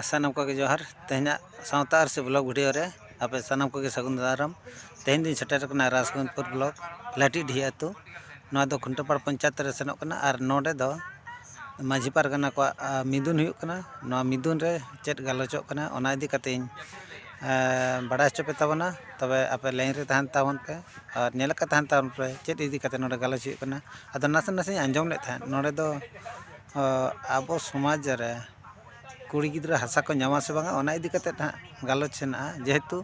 ᱥᱟᱱᱟᱢ ᱠᱚᱜᱮ ᱡᱚᱦᱟᱨ ᱛᱮᱦᱮᱧᱟᱜ ᱥᱟᱶᱛᱟ ᱟᱨ ᱥᱮ ᱵᱞᱚᱜᱽ ᱵᱷᱤᱰᱤᱭᱳ ᱨᱮ ᱟᱯᱮ ᱥᱟᱱᱟᱢ ᱠᱚᱜᱮ ᱥᱟᱹᱜᱩᱱ ᱫᱟᱨᱟᱢ ᱛᱮᱦᱮᱧ ᱫᱚᱧ ᱥᱮᱴᱮᱨ ᱟᱠᱟᱱᱟ ᱨᱟᱡᱽᱜᱚᱸᱡᱽᱯᱩᱨ ᱵᱞᱚᱠ ᱞᱟᱹᱴᱤᱰᱤᱦᱟᱹ ᱟᱹᱛᱩ ᱱᱚᱣᱟ ᱫᱚ ᱠᱷᱩᱱᱴᱟᱹᱯᱟᱲ ᱯᱚᱧᱪᱟᱭᱮᱛ ᱨᱮ ᱥᱮᱱᱚᱜ ᱠᱟᱱᱟ ᱟᱨ ᱱᱚᱰᱮ ᱫᱚ ᱢᱟᱺᱡᱷᱤ ᱯᱟᱨᱜᱟᱱᱟ ᱠᱚᱣᱟᱜ ᱢᱤᱫᱩᱱ ᱦᱩᱭᱩᱜ ᱠᱟᱱᱟ ᱱᱚᱣᱟ ᱢᱤᱫᱩᱱ ᱨᱮ ᱪᱮᱫ ᱜᱟᱞᱚᱪᱚᱜ ᱠᱟᱱᱟ ᱚᱱᱟ ᱤᱫᱤ ᱠᱟᱛᱮᱫ ᱤᱧ ᱵᱟᱲᱟᱭ ᱦᱚᱪᱚ ᱯᱮ ᱛᱟᱵᱚᱱᱟ ᱛᱚᱵᱮ ᱟᱯᱮ ᱞᱟᱭᱤᱱ ᱨᱮ ᱛᱟᱦᱮᱱ ᱛᱟᱵᱚᱱ ᱯᱮ ᱟᱨ ᱧᱮᱞ ᱟᱠᱟᱫ ᱛᱟᱦᱮᱱ ᱛᱟᱵᱚᱱ ᱯᱮ ᱪᱮᱫ ᱤᱫᱤ ᱠᱟᱛᱮᱫ ᱱᱚᱰᱮ ᱜᱟᱞᱚᱪ ᱦᱩᱭᱩᱜ ᱠᱟᱱᱟ ᱟᱫᱚ ᱱᱟᱥᱮ ᱱᱟᱥᱮᱧ ᱟᱸᱡᱚᱢ ᱞᱮᱫ ᱛᱟᱦᱮᱸᱫ ᱱᱚᱰᱮ ᱫᱚ ᱟᱵᱚ ᱥᱚᱢᱟᱡᱽ ᱨᱮ ᱠᱩᱲᱤ ᱜᱤᱫᱽᱨᱟᱹ ᱦᱟᱥᱟ ᱠᱚ ᱧᱟᱢᱟ ᱥᱮ ᱵᱟᱝᱟ ᱚᱱᱟ ᱤᱫᱤ ᱠᱟᱛᱮᱫ ᱦᱟᱸᱜ ᱜᱟᱞᱚᱪ ᱦᱮᱱᱟᱜᱼᱟ ᱡᱮᱦᱮᱛᱩ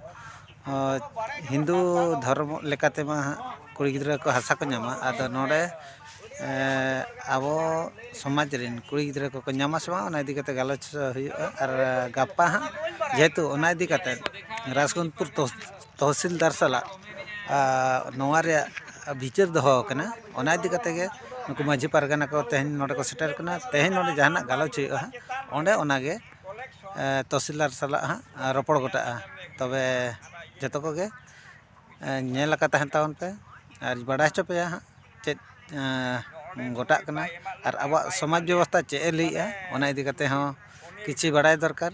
ᱦᱤᱱᱫᱩ ᱫᱷᱚᱨᱚᱢ ᱞᱮᱠᱟ ᱛᱮᱢᱟ ᱦᱟᱸᱜ ᱠᱩᱲᱤ ᱜᱤᱫᱽᱨᱟᱹ ᱠᱚ ᱦᱟᱥᱟ ᱠᱚ ᱧᱟᱢᱟ ᱟᱫᱚ ᱱᱚᱰᱮ ᱟᱵᱚ ᱥᱚᱢᱟᱡᱽ ᱨᱮᱱ ᱠᱩᱲᱤ ᱜᱤᱫᱽᱨᱟᱹ ᱠᱚᱠᱚ ᱧᱟᱢᱟ ᱥᱮ ᱵᱟᱝᱟ ᱚᱱᱟ ᱤᱫᱤ ᱠᱟᱛᱮᱫ ᱜᱟᱞᱚᱪ ᱦᱩᱭᱩᱜᱼᱟ ᱟᱨ ᱜᱟᱯᱟ ᱦᱟᱸᱜ ᱡᱮᱦᱮᱛᱩ ᱚᱱᱟ ᱤᱫᱤ ᱠᱟᱛᱮᱫ ᱨᱟᱡᱽᱜᱚᱱᱯᱩᱨ ᱛᱚᱦᱥᱤᱞᱫᱟᱨ ᱥᱟᱞᱟᱜ ᱱᱚᱣᱟ ᱨᱮᱭᱟᱜ ᱵᱤᱪᱟᱹᱨ ᱫᱚᱦᱚ ᱟᱠᱟᱱᱟ ᱚᱱᱟ ᱤᱫᱤ ᱠᱟᱛᱮᱫ ᱜᱮ ᱱᱩᱠᱩ ᱢᱟᱹᱡᱷᱤ ᱯᱟᱨᱜᱟᱱᱟ ᱠᱚ ᱛᱮᱦᱮᱧ ᱱᱚᱰᱮ ᱠᱚ ᱥᱮᱴᱮᱨ ᱠᱟᱱᱟ ᱛᱮᱦᱮᱧ ᱱᱚᱰᱮ ᱡᱟᱦᱟᱱᱟᱜ ᱜᱟᱞᱚᱪ ᱦᱩᱭᱩᱜᱼᱟ ᱚᱸᱰᱮ ᱚᱱᱟᱜᱮ ᱛᱚᱦᱥᱤᱞᱫᱟᱨ ᱥᱟᱞᱟᱜ ᱦᱟᱸᱜ ᱨᱚᱯᱚᱲ ᱜᱚᱴᱟᱜᱼᱟ ᱛᱚᱵᱮ ᱡᱚᱛᱚ ᱠᱚᱜᱮ ᱧᱮᱞ ᱟᱠᱟᱫ ᱛᱟᱦᱮᱱ ᱛᱟᱵᱚᱱ ᱯᱮ ᱟᱨ ᱵᱟᱰᱟᱭ ᱦᱚᱪᱚ ᱯᱮᱭᱟ ᱦᱟᱸᱜ ᱪᱮᱫ ᱜᱚᱴᱟᱜ ᱠᱟᱱᱟ ᱟᱨ ᱟᱵᱚᱣᱟᱜ ᱥᱚᱢᱟᱡᱽ ᱵᱮᱵᱚᱥᱛᱷᱟ ᱪᱮᱫ ᱮ ᱞᱟᱹᱭᱮᱫᱼᱟ ᱚᱱᱟ ᱤᱫᱤ ᱠᱟᱛᱮᱫ ᱦᱚᱸ ᱠᱤᱪᱷᱩ ᱵᱟᱲᱟᱭ ᱫᱚᱨᱠᱟᱨ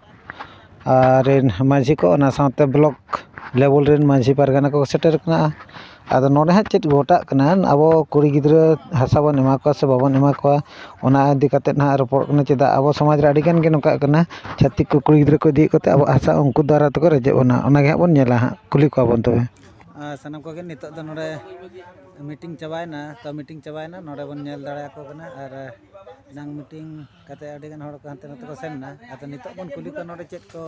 ᱟᱨ ᱨᱮᱱ ᱢᱟᱹᱡᱷᱤ ᱠᱚ ᱚᱱᱟ ᱥᱟᱶᱛᱮ ᱵᱞᱚᱠ ᱞᱮᱵᱮᱞ ᱨᱮᱱ ᱢᱟᱹᱡᱷᱤ ᱯᱟᱨᱜᱟᱱᱟ ᱠᱚ ᱥᱮᱴᱮᱨ ᱠᱟᱱᱟ ᱟᱫᱚ ᱱᱚᱰᱮ ᱦᱟᱸᱜ ᱪᱮᱫ ᱜᱷᱚᱴᱟᱜ ᱠᱟᱱᱟ ᱟᱵᱚ ᱠᱩᱲᱤ ᱜᱤᱫᱽᱨᱟᱹ ᱦᱟᱥᱟ ᱵᱚᱱ ᱮᱢᱟ ᱠᱚᱣᱟ ᱥᱮ ᱵᱟᱵᱚᱱ ᱮᱢᱟ ᱠᱚᱣᱟ ᱚᱱᱟ ᱤᱫᱤ ᱠᱟᱛᱮᱫ ᱦᱟᱸᱜ ᱨᱚᱯᱚᱲᱚᱜ ᱠᱟᱱᱟ ᱪᱮᱫᱟᱜ ᱟᱵᱚ ᱥᱚᱢᱟᱡᱽ ᱨᱮ ᱟᱹᱰᱤᱜᱟᱱ ᱜᱮ ᱱᱚᱝᱠᱟᱜ ᱠᱟᱱᱟ ᱪᱷᱟᱹᱛᱤᱠ ᱠᱚ ᱠᱩᱲᱤ ᱜᱤᱫᱽᱨᱟᱹ ᱠᱚ ᱤᱫᱤᱭᱮᱫ ᱠᱚᱛᱮ ᱟᱵᱚᱣᱟᱜ ᱦᱟᱥᱟ ᱩᱱᱠᱩ ᱫᱟᱨᱟᱭ ᱛᱮᱠᱚ ᱨᱮᱡᱮᱫ ᱵᱚᱱᱟ ᱚᱱᱟᱜᱮ ᱦᱟᱸᱜ ᱵᱚᱱ ᱧᱮᱞᱟ ᱦᱟᱸᱜ ᱠᱩᱞᱤ ᱠᱚᱣᱟ ᱵᱚᱱ ᱛᱚᱵᱮ ᱟᱨ ᱥᱟᱱᱟᱢ ᱠᱚᱜᱮ ᱱᱤᱛᱚᱜ ᱫᱚ ᱱᱚᱰᱮ ᱢᱤᱴᱤᱝ ᱪᱟᱵᱟᱭᱮᱱᱟ ᱛᱚ ᱢᱤᱴᱤᱝ ᱪᱟᱵᱟᱭᱮᱱᱟ ᱱᱚᱰᱮ ᱵᱚᱱ ᱧᱮᱞ ᱫᱟᱲᱮᱭᱟᱠᱚ ᱠᱟᱱᱟ ᱟᱨ ᱮᱱᱟᱝ ᱢᱤᱴᱤᱝ ᱠᱟᱛᱮ ᱟᱹᱰᱤ ᱜᱟᱱ ᱦᱚᱲ ᱠᱚ ᱦᱟᱱᱛᱮ ᱱᱟᱛᱮ ᱠᱚ ᱥᱮᱱ ᱮᱱᱟ ᱟᱫᱚ ᱱᱤᱛᱚᱜ ᱵᱚᱱ ᱠᱩᱞᱤ ᱠᱚᱣᱟ ᱱᱚᱰᱮ ᱪᱮᱫ ᱠᱚ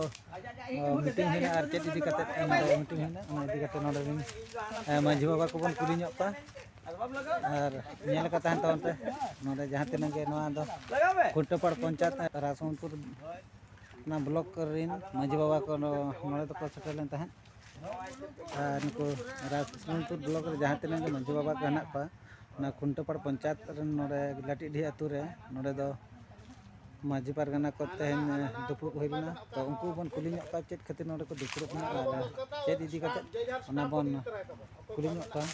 ᱢᱤᱴᱤᱝ ᱦᱩᱭᱱᱟ ᱟᱨ ᱪᱮᱫ ᱤᱫᱤ ᱠᱟᱛᱮ ᱱᱚᱰᱮ ᱢᱤᱴᱤᱝ ᱦᱩᱭᱱᱟ ᱚᱱᱟ ᱤᱫᱤ ᱠᱟᱛᱮ ᱱᱚᱰᱮ ᱨᱤᱱ ᱢᱟᱹᱡᱷᱤ ᱵᱟᱵᱟ ᱠᱚᱵᱚᱱ ᱠᱩᱞᱤ ᱧᱚᱜ ᱠᱚᱣᱟ ᱟᱨ ᱧᱮᱞ ᱠᱟᱛᱮ ᱛᱟᱦᱮᱱ ᱛᱟᱵᱚᱱ ᱯᱮ ᱱᱚᱰᱮ ᱡᱟᱦᱟᱸ ᱛᱤᱱᱟᱹᱜ ᱜᱮ ᱱᱚᱣᱟ ᱫᱚ ᱠᱩᱴᱟᱹᱯᱟᱲ ᱯᱚᱧᱪᱟᱭᱮᱛ ᱨᱟᱥᱚᱱᱯᱩᱨ ᱚᱱᱟ ᱵᱞᱚᱠ ᱨᱤᱱ ᱢᱟᱹᱡᱷᱤ ᱵᱟᱵᱟ ᱠᱚ ᱱᱚᱰᱮ ᱫᱚᱠᱚ ᱥᱮᱴᱮᱨ ᱞᱮᱱ ᱛᱟᱦᱮᱸᱫ ᱟᱨ ᱱᱩᱠᱩ ᱨᱟᱡᱽᱱᱚᱱᱫᱯᱩᱨ ᱵᱞᱚᱠ ᱨᱮ ᱡᱟᱦᱟᱸ ᱛᱤᱱᱟᱹᱜ ᱜᱮ ᱢᱟᱹᱡᱷᱤ ᱵᱟᱵᱟ ᱠᱚ ᱦᱮᱱᱟᱜ ᱠᱚᱣᱟ ᱚᱱᱟ ᱠᱷᱩᱱᱴᱟᱹᱯᱟᱲ ᱯᱚᱧᱪᱟᱭᱮᱛ ᱨᱮᱱ ᱱᱚᱰᱮ ᱞᱟᱹᱴᱤᱰᱤ ᱟᱛᱳ ᱨᱮ ᱱᱚᱰᱮ ᱫᱚ ᱢᱟᱹᱡᱷᱤ ᱯᱟᱨᱜᱟᱱᱟ ᱠᱚ ᱛᱮᱦᱮᱧ ᱫᱩᱯᱲᱩᱵ ᱦᱩᱭ ᱞᱮᱱᱟ ᱛᱚ ᱩᱱᱠᱩ ᱵᱚᱱ ᱠᱩᱞᱤ ᱧᱚᱜ ᱠᱚᱣᱟ ᱪᱮᱫ ᱠᱷᱟᱹᱛᱤᱨ ᱱᱚᱰᱮ ᱠᱚ ᱫᱩᱯᱲᱩᱵ ᱮᱱᱟ ᱟᱨ ᱪᱮᱫ ᱤᱫᱤ ᱠᱟᱛᱮ ᱚᱱᱟ ᱵᱚᱱ ᱠᱩᱞᱤ ᱧᱚᱜ ᱠᱚᱣᱟ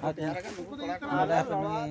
ᱟᱨ ᱱᱚᱰᱮ ᱦᱟᱯᱮ ᱱᱩᱭ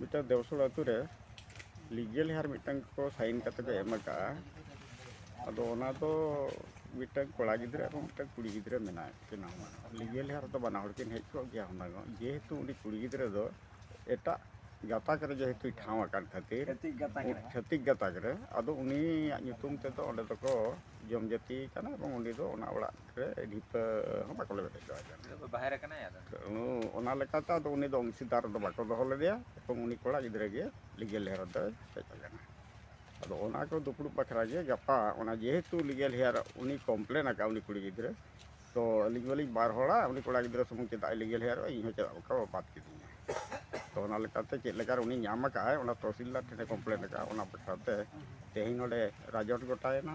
ᱢᱤᱫᱴᱟᱝ ᱫᱮᱣᱥᱚᱲ ᱟᱹᱛᱩ ᱨᱮ ᱞᱤᱜᱮᱞ ᱦᱮᱭᱟᱨ ᱢᱤᱫᱴᱟᱝ ᱠᱚ ᱥᱟᱭᱤᱱ ᱠᱟᱛᱮ ᱠᱚ ᱮᱢ ᱟᱠᱟᱫᱼᱟ ᱟᱫᱚ ᱚᱱᱟ ᱫᱚ ᱢᱤᱫᱴᱟᱝ ᱠᱚᱲᱟ ᱜᱤᱫᱽᱨᱟᱹ ᱟᱨ ᱢᱤᱫᱴᱟᱝ ᱠᱩᱲᱤ ᱜᱤᱫᱽᱨᱟᱹ ᱢᱮᱱᱟᱭ ᱠᱤᱱᱟ ᱞᱤᱜᱮᱞ ᱦᱮᱭᱟᱨ ᱫᱚ ᱵᱟᱱᱟ ᱦᱚᱲ ᱠᱤᱱ ᱦᱮᱡ ᱠᱚᱜ ᱜᱮᱭᱟ ᱦᱩᱱᱟᱹᱝ ᱚᱜ ᱡᱮᱦᱮᱛᱩ ᱩᱱᱤ ᱠᱩᱲᱤ ᱜᱤᱫᱽᱨᱟᱹ ᱫᱚ ᱮᱴᱟᱜ ᱜᱟᱛᱟᱠ ᱨᱮ ᱡᱮᱦᱮᱛᱩᱭ ᱴᱷᱟᱶ ᱟᱠᱟᱱ ᱠᱷᱟᱹᱛᱤᱨ ᱪᱷᱟᱹᱛᱤᱠ ᱜᱟᱛᱟᱠ ᱨᱮ ᱟᱫᱚ ᱩᱱᱤᱭᱟᱜ ᱧᱩᱛᱩᱢ ᱛᱮᱫᱚ ᱚᱸᱰᱮ ᱫᱚᱠᱚ ᱡᱚᱢ ᱡᱟᱹᱛᱤᱭᱮ ᱠᱟᱱᱟ ᱮᱵᱚᱝ ᱩᱱᱤ ᱫᱚ ᱚᱱᱟ ᱚᱲᱟᱜ ᱰᱷᱤᱯᱟᱹ ᱦᱚᱸ ᱵᱟᱠᱚ ᱞᱮᱵᱮᱫ ᱦᱚᱪᱚᱣᱟᱭ ᱠᱟᱱᱟ ᱵᱟᱦᱮᱨ ᱟᱠᱟᱱᱟᱭ ᱟᱫᱚ ᱚᱱᱟ ᱞᱮᱠᱟᱛᱮ ᱟᱫᱚ ᱩᱱᱤ ᱫᱚ ᱚᱝᱥᱤᱫᱟᱨ ᱫᱚ ᱵᱟᱠᱚ ᱫᱚᱦᱚ ᱞᱮᱫᱮᱭᱟ ᱮᱵᱚᱝ ᱩᱱᱤ ᱠᱚᱲᱟ ᱜᱤᱫᱽᱨᱟᱹ ᱜᱮ ᱞᱤᱜᱮᱞ ᱦᱮᱭᱟᱨ ᱫᱚᱭ ᱦᱮᱡ ᱟᱠᱟᱱᱟ ᱟᱫᱚ ᱚᱱᱟ ᱠᱚ ᱫᱩᱯᱲᱩᱵ ᱵᱟᱠᱷᱨᱟ ᱜᱮ ᱜᱟᱯᱟ ᱚᱱᱟ ᱡᱮᱦᱮᱛᱩ ᱞᱤᱜᱮᱞ ᱦᱮᱭᱟᱨ ᱩᱱᱤ ᱠᱚᱢᱯᱞᱮᱱ ᱟᱠᱟᱫ ᱩᱱᱤ ᱠᱩᱲᱤ ᱜᱤᱫᱽᱨᱟᱹ ᱛᱚ ᱟᱹᱞᱤᱧ ᱢᱟᱹᱞᱤᱧ ᱵᱟᱨ ᱦᱚᱲᱟ ᱩᱱᱤ ᱠᱚᱲᱟ ᱜᱤᱫᱽᱨᱟᱹ ᱥᱩᱢᱩᱝ ᱪᱮᱫᱟᱜ ᱞᱤᱜᱮᱞ ᱦᱮᱭᱟᱨ ᱤᱧ ᱦᱚᱸ ᱪᱮᱫᱟᱜ ᱵᱟᱠᱚ ᱵᱟᱫ ᱠᱤᱫᱤᱧᱟ ᱛᱚ ᱚᱱᱟ ᱞᱮᱠᱟᱛᱮ ᱪᱮᱫ ᱞᱮᱠᱟ ᱩᱱᱤ ᱧᱟᱢ ᱟᱠᱟᱫ ᱟᱭ ᱚᱱᱟ ᱛᱚᱦᱥᱤᱞᱫᱟᱨ ᱴᱷᱮᱱᱮ ᱠᱚᱢᱯᱞᱮᱱ ᱟᱠᱟᱫ ᱚᱱᱟ ᱵᱟᱠᱷᱨᱟᱛᱮ ᱛᱮᱦᱮᱧ ᱱᱚᱰᱮ ᱨᱟᱡᱚᱴ ᱜᱚᱴᱟᱭᱮᱱᱟ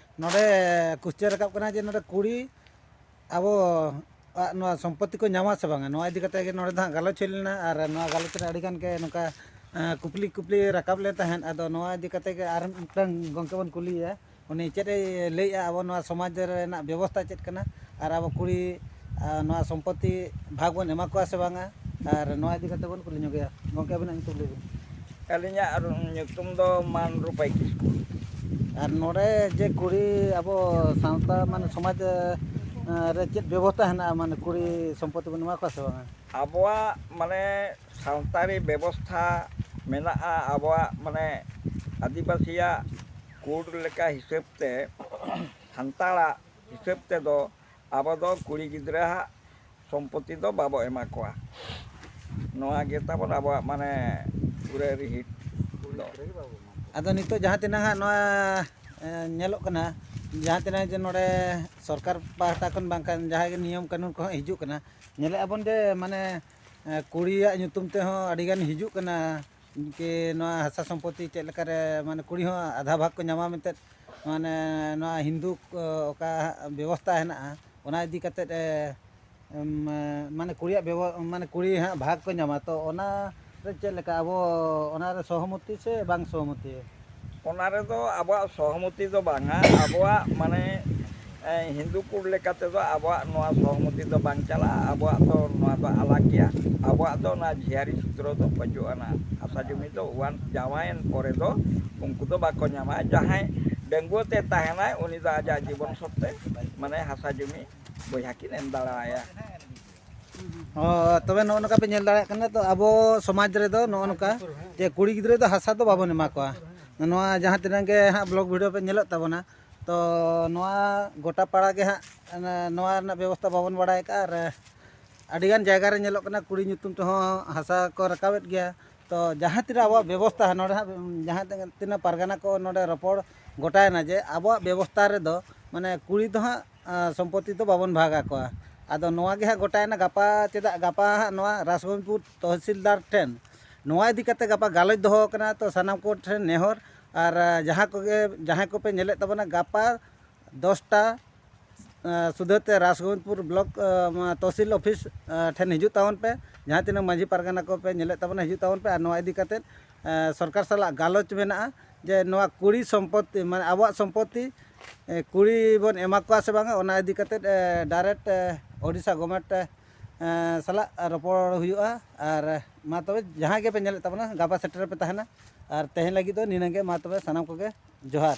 ᱱᱚᱰᱮ ᱠᱩᱥᱪᱟᱹ ᱨᱟᱠᱟᱵ ᱠᱟᱱᱟ ᱡᱮ ᱱᱚᱰᱮ ᱠᱩᱲᱤ ᱟᱵᱚ ᱟᱜ ᱱᱚᱣᱟ ᱥᱚᱢᱯᱚᱛᱛᱤ ᱠᱚ ᱧᱟᱢᱟ ᱥᱮ ᱵᱟᱝᱟ ᱱᱚᱣᱟ ᱤᱫᱤ ᱠᱟᱛᱮᱫ ᱜᱮ ᱱᱚᱰᱮ ᱫᱚ ᱦᱟᱸᱜ ᱜᱟᱞᱚᱪ ᱦᱩᱭ ᱞᱮᱱᱟ ᱟᱨ ᱱᱚᱣᱟ ᱜᱟᱞᱚᱪ ᱨᱮ ᱟᱹᱰᱤ ᱜᱟᱱ ᱜᱮ ᱱᱚᱝᱠᱟ ᱠᱩᱠᱞᱤ ᱠᱩᱯᱞᱤ ᱨᱟᱠᱟᱵ ᱞᱮᱱ ᱛᱟᱦᱮᱸᱫ ᱟᱫᱚ ᱱᱚᱣᱟ ᱤᱫᱤ ᱠᱟᱛᱮᱫ ᱜᱮ ᱟᱨ ᱢᱤᱫᱴᱟᱝ ᱜᱚᱢᱠᱮ ᱵᱚᱱ ᱠᱩᱞᱤᱭᱮᱭᱟ ᱩᱱᱤ ᱪᱮᱫ ᱮ ᱞᱟᱹᱭᱮᱜᱼᱟ ᱟᱵᱚ ᱱᱚᱣᱟ ᱥᱚᱢᱟᱡᱽ ᱨᱮᱱᱟᱜ ᱵᱮᱵᱚᱥᱛᱟ ᱪᱮᱫ ᱠᱟᱱᱟ ᱟᱨ ᱟᱵᱚ ᱠᱩᱲᱤ ᱱᱚᱣᱟ ᱥᱚᱢᱯᱚᱛᱛᱤ ᱵᱷᱟᱜᱽ ᱵᱚᱱ ᱮᱢᱟ ᱠᱚᱣᱟ ᱥᱮ ᱵᱟᱝᱟ ᱟᱨ ᱱᱚᱣᱟ ᱤᱫᱤ ᱠᱟᱛᱮᱫ ᱵᱚᱱ ᱠᱩᱞᱤ ᱧᱚᱜᱮᱭᱟ ᱜᱚᱢᱠᱮ ᱟᱹᱵᱤᱱᱟᱜ ᱧᱩᱛᱩᱢ ᱞᱟᱹᱭ ᱵᱤᱱ ᱟᱹᱞᱤᱧᱟᱜ ᱧᱩᱛᱩᱢ ᱫᱚ ᱢᱟᱱᱨᱩᱯᱟᱭ ᱠᱤᱥᱠᱩ ᱟᱨ ᱱᱚᱰᱮ ᱡᱮ ᱠᱩᱲᱤ ᱟᱵᱚ ᱥᱟᱶᱛᱟ ᱢᱟᱱᱮ ᱥᱚᱢᱟᱡᱽ ᱨᱮ ᱪᱮᱫ ᱵᱮᱵᱚᱥᱛᱟ ᱦᱮᱱᱟᱜᱼᱟ ᱢᱟᱱᱮ ᱠᱩᱲᱤ ᱥᱚᱢᱯᱚᱛᱛᱤ ᱵᱚᱱ ᱮᱢᱟ ᱠᱚᱣᱟ ᱥᱮ ᱵᱟᱝᱟ ᱟᱵᱚᱣᱟᱜ ᱢᱟᱱᱮ ᱥᱟᱶᱛᱟᱨᱤ ᱵᱮᱵᱚᱥᱛᱷᱟ ᱢᱮᱱᱟᱜᱼᱟ ᱟᱵᱚᱣᱟᱜ ᱢᱟᱱᱮ ᱟᱹᱫᱤᱵᱟᱹᱥᱤᱭᱟᱜ ᱠᱳᱰ ᱞᱮᱠᱟ ᱦᱤᱥᱟᱹᱵᱽ ᱛᱮ ᱥᱟᱱᱛᱟᱲᱟᱜ ᱦᱤᱥᱟᱹᱵ ᱛᱮᱫᱚ ᱟᱵᱚ ᱫᱚ ᱠᱩᱲᱤ ᱜᱤᱫᱽᱨᱟᱹ ᱟᱜ ᱥᱚᱢᱯᱚᱛᱤ ᱫᱚ ᱵᱟᱵᱚ ᱮᱢᱟ ᱠᱚᱣᱟ ᱱᱚᱣᱟ ᱜᱮ ᱛᱟᱵᱚᱱ ᱟᱵᱚᱣᱟᱜ ᱢᱟᱱᱮ ᱯᱩᱨᱟᱹ ᱨᱤᱦᱤᱴ ᱫᱚ ᱟᱫᱚ ᱱᱤᱛᱚᱜ ᱡᱟᱦᱟᱸ ᱛᱤᱱᱟᱹᱜ ᱦᱟᱸᱜ ᱱᱚᱣᱟ ᱧᱮᱞᱚᱜ ᱠᱟᱱᱟ ᱡᱟᱦᱟᱸ ᱛᱤᱱᱟᱹᱜ ᱡᱮ ᱱᱚᱰᱮ ᱥᱚᱨᱠᱟᱨ ᱯᱟᱦᱴᱟ ᱠᱷᱚᱱ ᱵᱟᱝᱠᱷᱟᱱ ᱡᱟᱦᱟᱸᱭ ᱜᱮ ᱱᱤᱭᱚᱢ ᱠᱟᱹᱱᱩᱱ ᱠᱚᱦᱚᱸ ᱦᱤᱡᱩᱜ ᱠᱟᱱᱟ ᱧᱮᱞᱮᱫ ᱟᱵᱚᱱ ᱡᱮ ᱢᱟᱱᱮ ᱠᱩᱲᱤᱭᱟᱜ ᱧᱩᱛᱩᱢ ᱛᱮᱦᱚᱸ ᱟᱹᱰᱤ ᱜᱟᱱ ᱦᱤᱡᱩᱜ ᱠᱟᱱᱟ ᱤᱱᱠᱟᱹ ᱱᱚᱣᱟ ᱦᱟᱥᱟ ᱥᱚᱢᱯᱚᱛᱤ ᱪᱮᱫ ᱞᱮᱠᱟᱨᱮ ᱢᱟᱱᱮ ᱠᱩᱲᱤ ᱦᱚᱸ ᱟᱫᱷᱟ ᱵᱷᱟᱜᱽ ᱠᱚ ᱧᱟᱢᱟ ᱢᱮᱱᱛᱮ ᱢᱟᱱᱮ ᱱᱚᱣᱟ ᱦᱤᱱᱫᱩ ᱚᱠᱟ ᱵᱮᱵᱚᱥᱛᱟ ᱦᱮᱱᱟᱜᱼᱟ ᱚᱱᱟ ᱤᱫᱤ ᱠᱟᱛᱮᱫ ᱢᱟᱱᱮ ᱠᱩᱲᱤᱭᱟᱜ ᱢᱟᱱᱮ ᱠᱩᱲᱤ ᱦᱟᱸᱜ ᱵᱷᱟᱜᱽ ᱠᱚ ᱧᱟᱢᱟ ᱛᱚ ᱚᱱᱟ ᱨᱮ ᱪᱮᱫ ᱞᱮᱠᱟ ᱟᱵᱚ ᱚᱱᱟᱨᱮ ᱥᱚᱦᱚᱢᱚᱛᱤ ᱥᱮ ᱵᱟᱝ ᱥᱚᱦᱚᱢᱚᱛᱤ ᱚᱱᱟ ᱨᱮᱫᱚ ᱟᱵᱚᱣᱟᱜ ᱥᱚᱦᱚᱢᱚᱛᱤ ᱫᱚ ᱵᱟᱝᱟ ᱟᱵᱚᱣᱟᱜ ᱢᱟᱱᱮ ᱦᱤᱱᱫᱩ ᱠᱚ ᱞᱮᱠᱟ ᱛᱮᱫᱚ ᱟᱵᱚᱣᱟᱜ ᱱᱚᱣᱟ ᱥᱚᱦᱚᱢᱚᱛᱤ ᱫᱚ ᱵᱟᱝ ᱪᱟᱞᱟᱜᱼᱟ ᱟᱵᱚᱣᱟᱜ ᱫᱚ ᱱᱚᱣᱟ ᱫᱚ ᱟᱞᱟᱜᱽ ᱜᱮᱭᱟ ᱟᱵᱚᱣᱟᱜ ᱫᱚ ᱚᱱᱟ ᱡᱷᱤᱭᱟᱨᱤ ᱥᱩᱛᱨᱚ ᱫᱚ ᱵᱟᱹᱪᱩᱜ ᱟᱱᱟ ᱦᱟᱥᱟ ᱡᱩᱢᱤ ᱫᱚ ᱚᱣᱟᱱ ᱡᱟᱶᱟᱭᱮᱱ ᱯᱚᱨᱮ ᱫᱚ ᱩᱱᱠᱩ ᱫᱚ ᱵᱟᱠᱚ ᱧᱟᱢᱟ ᱡᱟᱦᱟᱸᱭ ᱰᱟᱺᱜᱩᱣᱟᱹ ᱛᱮ ᱛᱟᱦᱮᱱᱟᱭ ᱩᱱᱤ ᱫᱚ ᱟᱡᱟᱜ ᱡᱤᱵᱚᱱ ᱥᱚᱛᱛᱮ ᱢᱟᱱᱮ ᱦᱟᱥᱟ ᱡᱩᱢᱤ ᱵᱚᱭᱦᱟ ᱠᱤᱱ ᱮᱢ ᱫᱟᱲᱮ ᱟᱭᱟ ᱦᱳᱭ ᱛᱚᱵᱮ ᱱᱚᱜᱼᱚ ᱱᱚᱝᱠᱟ ᱯᱮ ᱧᱮᱞ ᱫᱟᱲᱮᱭᱟᱜ ᱠᱟᱱᱟ ᱛᱚ ᱟᱵᱚ ᱥᱚᱢᱟᱡᱽ ᱨᱮᱫᱚ ᱱᱚᱜᱼᱚ ᱱᱚᱝᱠᱟ ᱡᱮ ᱠᱩᱲᱤ ᱜᱤᱫᱽᱨᱟᱹ ᱫᱚ ᱦᱟᱥᱟ ᱫᱚ ᱵᱟᱵᱚᱱ ᱮᱢᱟ ᱠᱚᱣᱟ ᱱᱚᱣᱟ ᱡᱟᱦᱟᱸ ᱛᱤᱱᱟᱹᱜ ᱜᱮ ᱦᱟᱸᱜ ᱵᱞᱚᱜᱽ ᱵᱷᱤᱰᱤᱭᱳ ᱯᱮ ᱧᱮᱞᱮᱫ ᱛᱟᱵᱚᱱᱟ ᱛᱚ ᱱᱚᱣᱟ ᱜᱚᱴᱟ ᱯᱟᱲᱟ ᱜᱮ ᱦᱟᱸᱜ ᱱᱚᱣᱟ ᱨᱮᱱᱟᱜ ᱵᱮᱵᱚᱥᱛᱷᱟ ᱵᱟᱵᱚᱱ ᱵᱟᱲᱟᱭ ᱠᱟᱜᱼᱟ ᱟᱨ ᱟᱹᱰᱤᱜᱟᱱ ᱡᱟᱭᱜᱟ ᱨᱮ ᱧᱮᱞᱚᱜ ᱠᱟᱱᱟ ᱠᱩᱲᱤ ᱧᱩᱛᱩᱢ ᱛᱮᱦᱚᱸ ᱦᱟᱥᱟ ᱠᱚ ᱨᱟᱠᱟᱵᱮᱫ ᱜᱮᱭᱟ ᱛᱚ ᱡᱟᱦᱟᱸ ᱛᱤᱱᱟᱹᱜ ᱟᱵᱚᱣᱟᱜ ᱵᱮᱵᱚᱥᱛᱷᱟ ᱱᱚᱰᱮ ᱦᱟᱸᱜ ᱡᱟᱦᱟᱸ ᱛᱤᱱᱟᱹᱜ ᱯᱟᱨᱜᱟᱱᱟ ᱠᱚ ᱱᱚᱰᱮ ᱨᱚᱯᱚᱲ ᱜᱚᱴᱟᱭᱮᱱᱟ ᱡᱮ ᱟᱵᱚᱣᱟᱜ ᱵᱮᱵᱚᱥᱛᱷᱟ ᱨᱮᱫᱚ ᱢᱟᱱᱮ ᱠᱩᱲᱤ ᱫᱚ ᱦᱟᱸᱜ ᱥᱚᱢᱯᱚᱛᱛᱤ ᱫᱚ ᱵᱟᱵᱚᱱ ᱵᱷᱟᱜᱽ ᱟᱠᱚᱣᱟ ᱟᱫᱚ ᱱᱚᱣᱟ ᱜᱮ ᱦᱟᱸᱜ ᱜᱚᱴᱟᱭᱮᱱᱟ ᱜᱟᱯᱟ ᱪᱮᱫᱟᱜ ᱜᱟᱯᱟ ᱦᱟᱸᱜ ᱱᱚᱣᱟ ᱨᱟᱥᱜᱚᱱᱯᱩᱨ ᱛᱚᱦᱥᱤᱞᱫᱟᱨ ᱴᱷᱮᱱ ᱱᱚᱣᱟ ᱤᱫᱤ ᱠᱟᱛᱮᱫ ᱜᱟᱯᱟ ᱜᱟᱞᱚᱪ ᱫᱚᱦᱚ ᱟᱠᱟᱱᱟ ᱛᱚ ᱥᱟᱱᱟᱢ ᱠᱚᱴᱷᱮᱱ ᱱᱮᱦᱚᱨ ᱟᱨ ᱡᱟᱦᱟᱸ ᱠᱚᱜᱮ ᱡᱟᱦᱟᱸᱭ ᱠᱚᱯᱮ ᱧᱮᱞᱮᱫ ᱛᱟᱵᱚᱱᱟ ᱜᱟᱯᱟ ᱫᱚᱥᱴᱟ ᱥᱩᱫᱷᱟᱹ ᱛᱮ ᱨᱟᱥᱜᱚᱱᱯᱩᱨ ᱵᱞᱚᱠ ᱛᱚᱦᱥᱤᱞ ᱚᱯᱷᱤᱥ ᱴᱷᱮᱱ ᱦᱤᱡᱩᱜ ᱛᱟᱵᱚᱱ ᱯᱮ ᱡᱟᱦᱟᱸ ᱛᱤᱱᱟᱹᱜ ᱢᱟᱺᱡᱷᱤ ᱯᱟᱨᱜᱟᱱᱟ ᱠᱚᱯᱮ ᱧᱮᱞᱮᱫ ᱛᱟᱵᱚᱱᱟ ᱦᱤᱡᱩᱜ ᱛᱟᱵᱚᱱ ᱯᱮ ᱟᱨ ᱱᱚᱣᱟ ᱤᱫᱤ ᱠᱟᱛᱮᱫ ᱥᱚᱨᱠᱟᱨ ᱥᱟᱞᱟᱜ ᱜᱟᱞᱚᱪ ᱢᱮᱱᱟᱜᱼᱟ ᱡᱮ ᱱᱚᱣᱟ ᱠᱩᱲᱤ ᱥᱚᱢᱯᱚᱛᱛᱤ ᱢᱟᱱᱮ ᱟᱵᱚᱣᱟᱜ ᱥᱚᱢᱯᱚᱛᱛᱤ ᱠᱩᱲᱤ ᱵᱚᱱ ᱮᱢᱟ ᱠᱚᱣᱟ ᱥᱮ ᱵᱟᱝᱟ ᱚᱱᱟ ᱤᱫᱤ ᱠᱟᱛᱮ ᱰᱟᱭᱨᱮᱠᱴ ᱳᱰᱤᱥᱟ ᱜᱚᱵᱷᱢᱮᱱᱴ ᱥᱟᱞᱟᱜ ᱨᱚᱯᱚᱲ ᱦᱩᱭᱩᱜᱼᱟ ᱟᱨ ᱢᱟ ᱛᱚᱵᱮ ᱡᱟᱦᱟᱸᱭ ᱜᱮᱯᱮ ᱧᱮᱞᱮᱫ ᱛᱟᱵᱚᱱᱟ ᱜᱟᱯᱟ ᱥᱮᱴᱮᱨ ᱨᱮᱯᱮ ᱛᱟᱦᱮᱱᱟ ᱟᱨ ᱛᱮᱦᱮᱧ ᱞᱟᱹᱜᱤᱫ ᱫᱚ ᱱᱤᱱᱟᱹᱜ ᱜᱮ ᱢᱟ ᱛᱚᱵᱮ ᱥᱟᱱᱟᱢ ᱠᱚᱜᱮ ᱡᱚᱦᱟᱨ